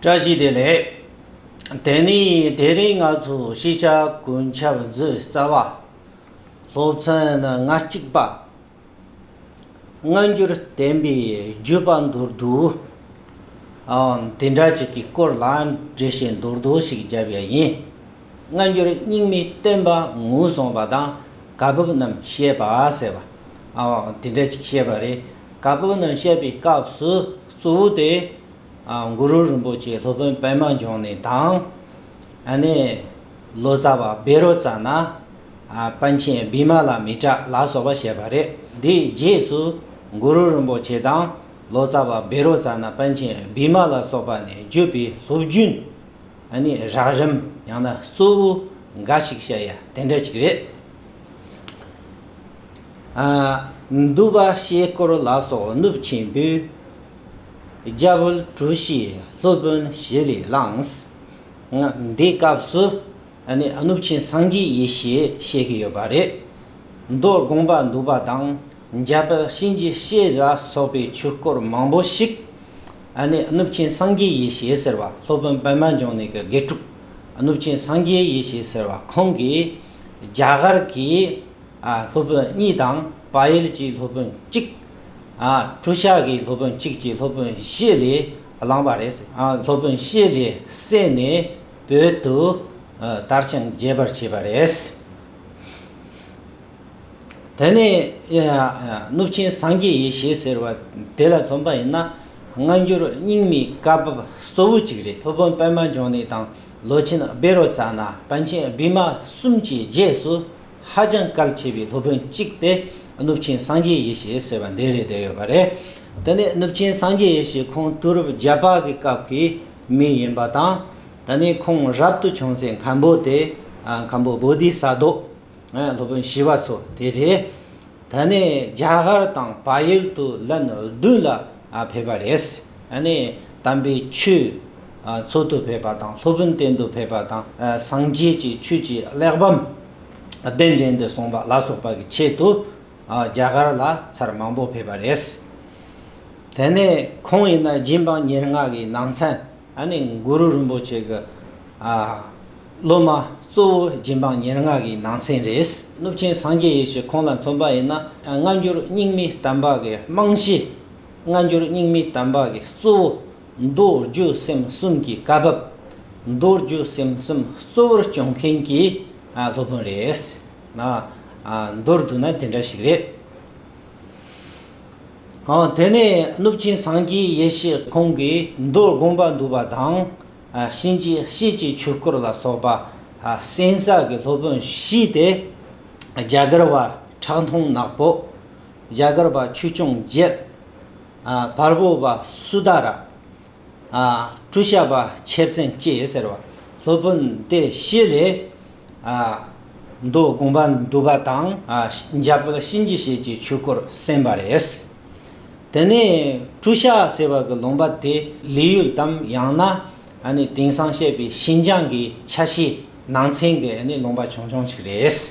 བཀྲ་ཤིས་བདེ་ལེགས། དེ་ནས་དེ་རིང་ང་ཚོས་ཤེས་བྱ་གོན་ཆབ་མཛོད་རྩ་བ། སློབ་ཚན་ང་གཅིག་པ། སྔ་འགྱུར་བསྟན་པའི་བརྒྱུད་པ་མདོར་བསྡུའང་དེ་འདྲ་ཅིག་གི་སྐོར་ལ་འགྲེལ་བཤད་མདོར་བསྡུ་ཞིག་བརྒྱབ་ཡ་ཡིན། སྔ་འགྱུར་རྙིང་མའི་བསྟན་པ་ངོས་བཟུང་བ་དང་བཀའ་བབས་རྣམས་བཤད་པ་ཟེར་བའང་དེ་འདྲ་ཅིག་བཤད་པ་རེད། བཀའ་བབས་རྣམས་བཤད་པའི་སྐབས་སུ་གཙོ་བོ་དེ། གུ་རུ་རིན་པོ་ཆེ་སློབ་དཔོན་པདྨ་འབྱུང་གནས་དང། ནི། ལོ་ཙཱ་བ་བེ་རོ་ཙཱ་ན། པཎ་ཆེན་བི་མ་ལ་མི་ཏྲ་ལ་སོགས་པ་བཤད་པ་རེད། དེའི་རྗེས་སུ། གུ་རུ་རིན་པོ་ཆེ་དང། ལོ་ཙཱ་བ་བེ་རོ་ཙཱ་ན་པཎ་ཆེན་བི་མ་ལ་སོགས་པ་ནས་བརྒྱུད་པའི་སློབ་རྒྱུན། ནི། རགས་རིམ་ཡང་ན་གཙོ་བོ། འགའ་ཞིག་བཤད་ཡ་དེ་འདྲ་ཅིག་རེད། འདུ་བ་གཤེད་སྐོར་ལ་སོགས་གནུབས་ཆེན་པོས། རྒྱ་བོད་གྲུ་བཞི་སློབ་དཔོན་བཞི་ལས་བླངས། འདི་སྐབས་སུ་ནི་གནུབས་ཆེན་སངས་རྒྱས་ཡེ་ཤེས་བཤད་ཀྱི་ཡོད་པ་རེད། མདོ་དགོངས་པ་འདུས་པ་དང་རྒྱ་བོད་གཤིན་རྗེ་གཤེད་ལ་སོགས་པའི་ཆོས་སྐོར་མང་པོ་ཞིག་ནི་གནུབས་ཆེན་སངས་རྒྱས་ཡེ་ཤེས་ཟེར་བ་སློབ་དཔོན་པདྨ་འབྱུང་གནས་ཀྱི་དགེ་ཕྲུག་གནུབས་ཆེན་སངས་རྒྱས་ཡེ་ཤེས་ཟེར་བ་ཁོང་གིས་རྒྱ་གར་གྱི་སློབ་དཔོན་གཉིས་དང་དཔལ་ཡུལ་གྱི་སློབ་དཔོན་གཅིག། བྲུ་ཤག་གིས་སློབ་དཔོན་གཅིག་ཅེས་སློབ་དཔོན་བཞི་ལས་བླངས་པ་རེད། སློབ་དཔོན་བཞི་ལས་བསྲེས་ནས་བོད་དུ་དར་ཞིང་རྒྱས་པར་བྱས་པ་རེད། དེ་ནས་གནུབས་ཆེན་སངས་རྒྱས་ཡེ་ཤེས་ཟེར་བ་དེ་ལ་མཚོན་པ་ཡིན་ན་སྔ་འགྱུར་རྙིང་མའི་བཀའ་བབས་གཙོ་བོ་གཅིག་རེད། སློབ་དཔོན་པདྨ་འབྱུང་གནས་དང་ལོ་ཆེན་སྦེ་རོ་ཙཱ་ན་པཎ་ཆེན་བི་མ་གསུམ་གྱི་རྗེས་སུ་ཧ་ཅང་གལ་ཆེ་བའི་སློབ་དཔོན་གཅིག་སྟེ་གནུབས་ཆེན་སངས་རྒྱས་ཡེ་ཤེས་ཟེར་བ་འདི་རེད་བསྡད་ཡོད་པ་རེད། དེ་ནས་གནུབས་ཆེན་སངས་རྒྱས་ཡེ་ཤེས་ཁོང་དུས་རབས་བརྒྱད་པ་གི་སྐབས་ཀྱི་མི་ཡིན་པ་དང། ད་ནི་ཁོང་རབ་ཏུ་བྱུང་སའི་མཁན་པོ་དེ། མཁན་པོ་བོ་དྷི་ས་རྡོ། སློབ་དཔོན་བྱིས་པ་ཚོ་དེ་རེད། ད་ནས་རྒྱ་གར་དང་བལ་ཡུལ་དུ་ལན་བདུན་ལ་ཕེབས་པ་རེད། དམ་པའི་ཆོས་འཚོགས་འདུ་ཕེབས་པ་དང་སློབ་དཔོན་བསྟེན་འདུ་ཕེབས་པ་དང་སངས་རྒྱས་ཀྱི་ཆོས་ཀྱི་གླེགས་བམ་གདན་འདྲེན་འདུ་གསུངས་པ་ལ་སོགས་པ་གི་ཆེད་དུ་རྒྱ་གར་ལ་ཚར་མང་པོ་ཕེབས་པ་རེད། དེ་ནས་ཁོང་ཡིན་ན་སྦྱིན་པ་ཉེར་ལྔ་གི་ནང་ཚན་ད་ནི་གུ་རུ་རིན་པོ་ཆེ་གི་སློབ་མ་གཙོ་བོ་རྗེ་འབངས་ཉེར་ལྔ་གི་ནང་ཚན་རེད། གནུབས་ཆེན་སངས་རྒྱས་ཡེ་ཤེས་ཁོང་ལ་མཚོན་པ་ཡིན་ན་སྔ་འགྱུར་རྙིང་མའི་དམ་པ་གི་རྨང་གཞི། སྔ་འགྱུར་རྙིང་མའི་དམ་པ་གི་གཙོ་བོ། མདོ་རྒྱུད་སེམས་གསུམ་གྱི་བཀའ་བབས། མདོ་རྒྱུད་སེམས་གསུམ་གཙོ་བོར་སྐྱོང་མཁན་གྱི་སློབ་དཔོན་རེད། མདོར་བསྡུ་ན་དེ་འདྲ་ཞིག་རེད། དེ་ནས་གནུབས་ཆེན་སངས་རྒྱས་ཡེ་ཤེས་ཁོང་གིས་མདོར་དགོངས་པ་འདུས་པ་དང། གཤིན་རྗེ་གཤེད་ཀྱི་ཆོས་སྐོར་ལ་སོགས་པ་གསན་བསགས་ཀྱི་སློབ་དཔོན་བཞི་སྟེ། རྒྱ་གར་བ་ཁྲག་འཐུང་ནག་པོ། རྒྱ་གར་བ་ཆོས་སྐྱོང་རྒྱལ། བལ་པོ་བ་སུ་དཱ་ར། བཀྲུ་བྱ་བ་ཆེར་བཙན་བཅས་ཟེར་བ་སློབ་དཔོན་ཏེ་བཞི་ལས། མདོ་དགོངས་པ་འདུས་པ་དང། འཇམ་དཔལ་གཤིན་རྗེ་གཤེད་ཀྱི་ཆོས་སྐོར་གསན་པ་རེད། དེ་ནས་བཀྲུ་བྱ་ཟེར་བ་གི་ལུང་པ་དེ་ལི་ཡུལ་དམ་ཡང་ན་དེང་སང་བཤད་པའི་ཤིན་ཅང་གི་ཆ་ཤས་ནང་ཚན་གྱི་ལུང་པ་ཆུང་ཆུང་ཞིག་རེད།